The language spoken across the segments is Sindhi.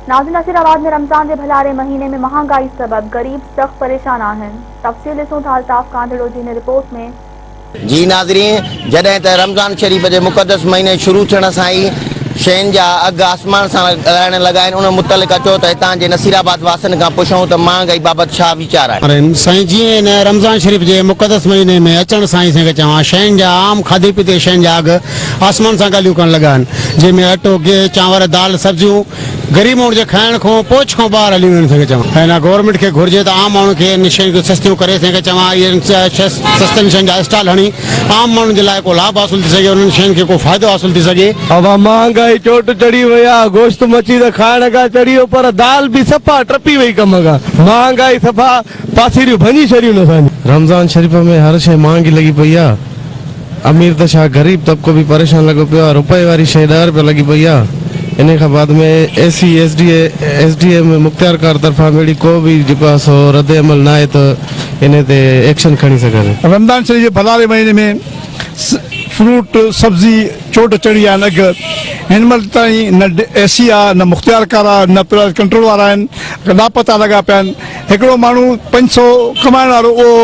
ناظم نصير آباد ۾ رمضان جي ڀلاري مهيني ۾ مهانگائي سبب غريب سخت پريشان آهن تفصيل ڏسون ٿا الطاف ڪانڌڙو جي هن رپورٽ ۾. جي ناظرين جڏهن ته رمضان شريف جي مقدس مهيني شروع ٿيڻ سان ئي شين جا اگهه آسمان سان ڳڙائڻ لڳا آهن ان متعلق اچو ته هتان جي نصير آباد واسين کان پڇون ته مهانگائي بابت ڇا آهن سائين جيئن هن رمضان شريف جي مقدس مهيني ۾ اچڻ سان ئي سنگت چوان شين جا عام کاڌي پيتي شين جا اگهه آسمان سان ڳالهيون ڪرڻ لڳا آهن جنهن ۾ اٽو گيهه چانور دال سبزيون غريب ماڻهن جي کائڻ کون پهچ کان ٻاهر هليون ويون سنگت چوان هن گورنمينٽ کي گهرجي ته عام ماڻهن کي ان شين جون سستيون ڪري سنگت چوان اهي سستن شين جا اسٽال هڻي عام ماڻهن جي لاء ڪو لاڀ حاصل ٿي سگهي، انهن شين کي ڪو فائدو حاصل ٿي سگهي. اها مهانگائي چوٽ چڙهي وئي آ، گوشت مڇي ته کائڻ کان چڙهي ويو پر دال به صفا ٽپي وئي ڪم کان، مهانگائي صفا پاسيريون ڀڃي ڇڏيون اسان جون. رمضان شريف ۾ هر شيء مهانگي لڳي پئي آ، امير ته ڇا غريب طبقو به پريشان لڳو پيو آ، رپئي واري شيء ڏهه رپيا لڳي پئي آ، انهي کان بعد ۾ A C S D A ۾ مختيارڪار طرفان به اهڙي ڪو به جيڪو آ سو رد عمل ناهي ته انهي تي ايڪشن کڻي سگهن. رمضان شريف جي ڀلاري مهيني ۾ فروٽ، سبزي چوٽ چڙهي ويا آهن اگهه هن مهل تائين نه اي سي آ نه مختيارڪار آ نه پرائز ڪنٽرول وارا آهن لاپتا لڳا پيا آهن هڪڙو ماڻهو پنج سئو ڪمائڻ وارو اهو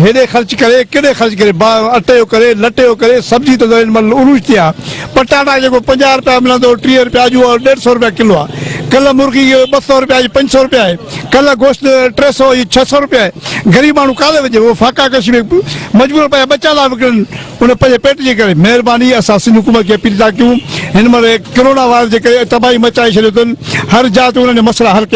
هيڏي خرچ ڪري ڪيڏي خرچ ڪري اٽي جو ڪري لٽي جو ڪري سبزي ته هن مهل عروج تي آ پٽاٽا جيڪو پنجاهه رپيا ملندو هو ٽيهه رپيا اڄ اهو ڏيڍ سئو رپيا ڪلو آ ڪلهه مرغي ٻه سئو رپيا اڄ پنج سئو رپيا آهي. ڪلهه گوشت ٽي سئو يا ڇهه سئو روپيه غريب ماڻهو ڪالهه وجهي اهو فاقا ڪشي ۾ مجبورن پنهنجا ٻچا لاء وڪڻن ان پنهنجي پيٽ جي ڪري مهرباني اسان سنڌ حڪومت کي اپيل ٿا ڪيون هن مهل ڪرونا وائرس جي ڪري تباهي مچائي ڇڏيو اٿن هر جاء تي انهن جا مسئلا حل ڪيا